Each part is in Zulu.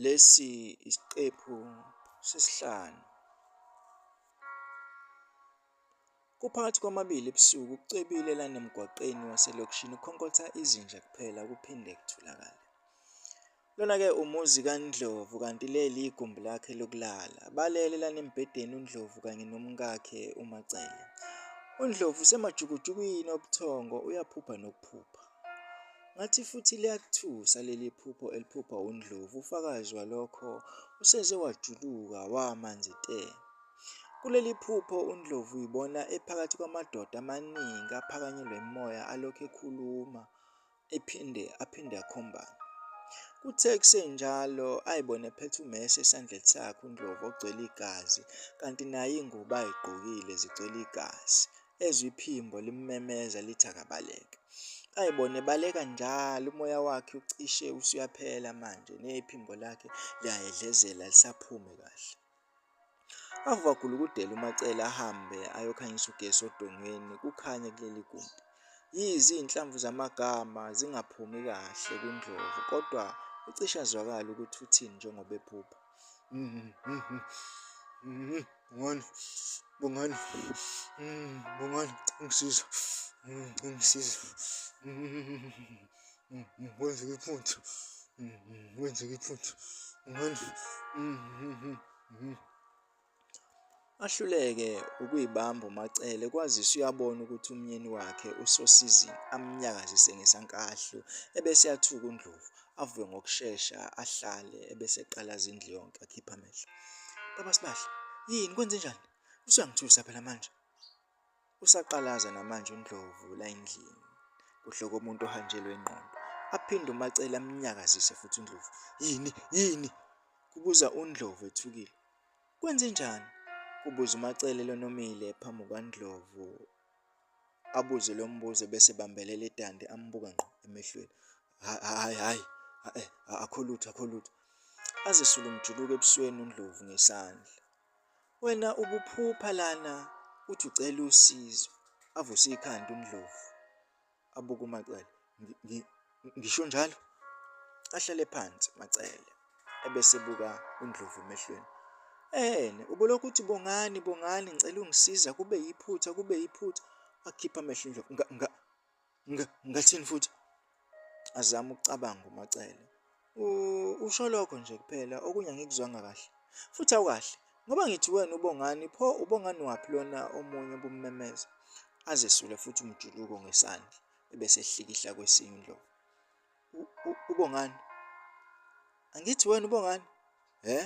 Lesi isiqephu sesihlanu. Kuphakathi kwamabili ebusuku kucwebile lana emgwaqeni waselokishini ukhonkotha izinja kuphela kuphinde kutholakale. Lona-ke umuzi kaNdlovu kanti leli igumbi lakhe lokulala. Balele lana embhedeni uNdlovu kanye nomkakhe uMacele. UNdlovu usemajukujukwini obuthongo uyaphupha nokuphupha. Ngathi futhi liyakuthusa leli phupho eliphuphwa uNdlovu. Ufakazi walokho useze wajuluka wamanzi te. Kuleli phupho uNdlovu uyibona ephakathi kwamadoda amaningi aphakanyelwe imimoya alokhu ekhuluma ephinde aphinde akhombane. Kuthe kusenjalo ayibone ephethe umese esandleni sakhe uNdlovu ogcwele igazi kanti naye ingubo ayigqokile zigcwele igazi. ezwa iphimbo limmemeza lithi akabaleke ayi bona ebaleka njalo umoya wakhe ucishe usuyaphela manje nephimbo lakhe liyayedlezela lisaphume kahle avakula ukudela umacele ahambe ayokhanyisa ugesi odongweni kukhanye kuleli gumbi yize izinhlamvu zamagama zingaphumi kahle kundlovu kodwa ucishe azwakala ukuthi uthini njengoba ephupha Bongani, bongani, bongani, ungisiza, ungisiza, kwenzeka iphutha, kwenzeka iphutha, bongani, ahluleke ukuyibamba uMacele kwazise uyabona ukuthi umyeni wakhe usosizini amnyakazise ngesankahlu ebese yathuka uNdlovu avuke ngokushesha ahlale ebese eqala zindlu yonke akhipha amehlo baba sibahle yini kwenze njani usuyangithusa phela manje usaqalaza namanje uNdlovu la endlini kuhloko umuntu ohanjelwe ingqondo aphinde uMacele amnyakazise futhi uNdlovu yini yini kubuza uNdlovu ethukile Kwenzenjani? kubuza uMacele lonomile phambi kukaNdlovu. Abuze lo mbuzo bese bambelela idandi ambuka ngqo emehlweni. Hayi hayi eh, akho lutho akho lutho. Azisule umjuluko ebusweni uNdlovu ngesandla. Wena ubuphupha lana uthi ucela usizo. Avuse ikhanda uNdlovu. abuke uMacele. Ngisho njalo. Ahlale phansi Macele ebese buka uNdlovu emehlweni. Ehene, ubolokhu uthi bongani bongani ngicela ungisiza kube yiphutha kube yiphutha. Akhipha amehlo uNdlovu. Nga nga ngathini futhi? Azama ukucabanga uMacele. Usho lokho nje kuphela, okunye angikuzwanga kahle. Futhi awukahle, ngoba ngithi wena uBongani, pho uBongani waphi lona omunye obummemeza? Azesule futhi umjuluko ngesandla, ebese ehlikihla kwesinye uNdlovu. UBongani? Angithi wena uBongani? He?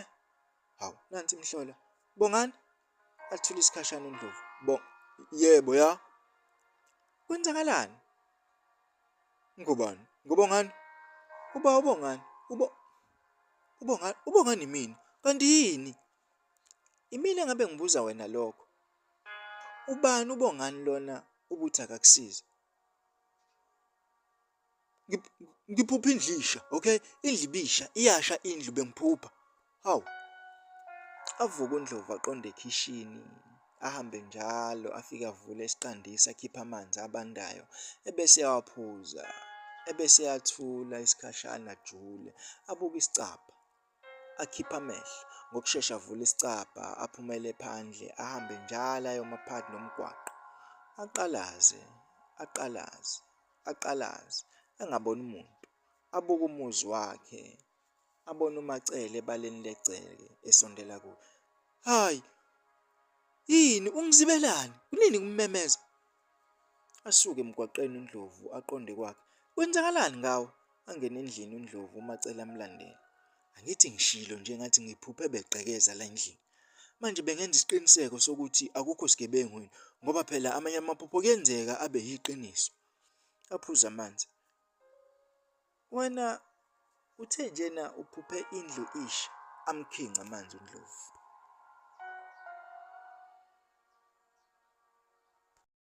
Hawu, nansi imhlola. Bongani? Athule isikhashana uNdlovu. Bo, yebo ya. Kwenzakalani? Ngubani? Ngubongani? Uba ubongani? Ubo Ubongani? Ubongani imina? Kanti yini? Imina ngabe ngibuza wena lokho. Ubani ubongani lona ubuthi akakusize? Ngiphupha indlisha, okay? Indlu ibisha, iyasha indlu bengiphupha. Hawu. Avuka uNdlovu aqonde ekhishini, ahambe njalo afike avule isiqandisi akhiphe amanzi abandayo ebese eyawaphuza. Ebese eyathula isikhashana ajule, abuke isicabha. Akhiphe amehlo, ngokushesha avule isicabha, aphumele phandle, ahambe njalo ayoma phakathi nomgwaqo. Aqalaze, aqalaze, aqalaze, engaboni muntu. Abuke umuzi wakhe, abona uMacele ebaleni legceke esondela kuye. Hayi. Yini ungizibelani? Kunini kummemeza? Asuke emgwaqeni uNdlovu aqonde kwakhe. Kwenzakalani ngawo? Angene endlini uNdlovu uMacele amlandela. Angithi ngishilo nje ngathi ngiphuphe begqekeza la endlini. Manje bengenza isiqiniseko sokuthi akukho sigebengu yini ngoba phela amanye amaphupho kuyenzeka abe yiqiniso. Aphuza amanzi. Wena uthe njena uphuphe indlu ish amkhinca amanzi uNdlovu.